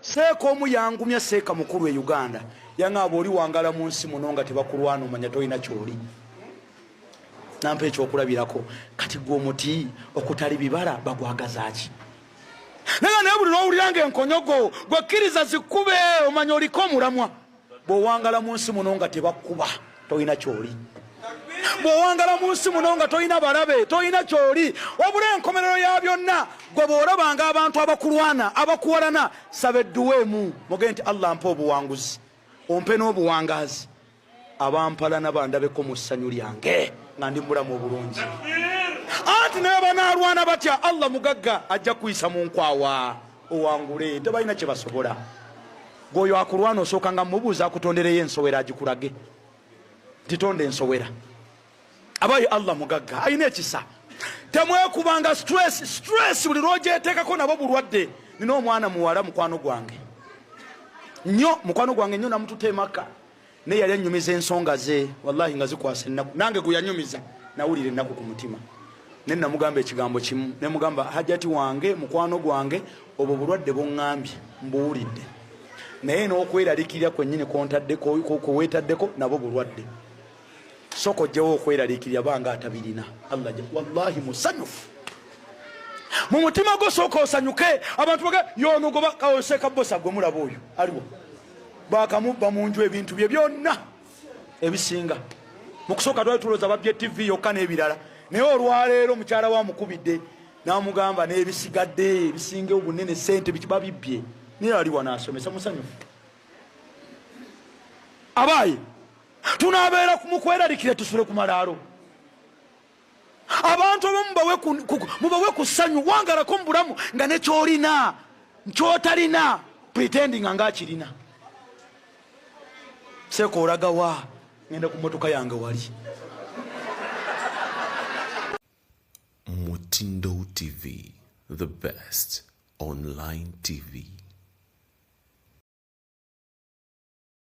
seeka omu yangumya seeka mukulu e uganda yaŋaaba oli wangala mu nsi muno nga tebakulwana omanya tolina kyoli nampa ekyokulabirako kati gwe omuti okutali bibala bagwagazaki naye naye buli lwowulira nga enkonyogo gwekkiriza zikube omanya oliko omulamwa bwowangala mu nsi muno nga tebakkuba tolina kyoli bwowangala mu nsi muno nga tolina balabe tolina kyoli wabula enkomerero ya byonna gwe bwolabanga abantu abakulwana abakuwalana saba edduweemu muge nti allah mpa obuwanguzi ompe n'obuwangaazi abampalana bandabeko mu ssanyu lyange nga ndi mulamu obulungi anti naye banaalwana batya allah mugagga ajja kuyisa mu nkwawa owangule tebalina kyebasobola gwoyo akulwana osooka nga mubuuza akutondereyo ensowera agikulage titonda ensowera abayo allah mugagga alina ekisa temwekubanga stress stress buli lwojetekako nabo bulwadde nina omwana muwala mukwano gwange nyo mukwano gwange nyo namututa emaka ne yali anyumiza ensonga ze wallahi nga zikwasa ennaku nange gwe yanyumiza nawulira ennaku ku mutima ne namugamba ekigambo kimu ne mugamba hajati wange mukwano gwange obwo bulwadde bongambye mbuwulidde naye n'okweralikirira kwennyini kweweetaddeko nabo bulwadde soko ojjewo okweralikirira banga atabirina allah wallahi musanyufu mu mutima gwo sooka osanyuke abantu baga yonogoba kawoseka bosa gwe mulaba oyo aliwo bakamubba munju ebintu bye byonna ebisinga mukusooka twali tuloza babye tv yokka n'ebirala naye olwaleero mukyala wa mukubidde namugamba n'ebisigadde ebisinga obunene sente bibabibbye naye ali wanaasomesa musanyufu abaaye tunabeera mukwerarikire tusule ku malaalo abantu abamu mubawe ku ssanyu wangalako mu bulamu nga nekyolina nkyotalina pretendinga nga akirina seeka olagawa ngenda ku motoka yange wali mutindo tv the best online tv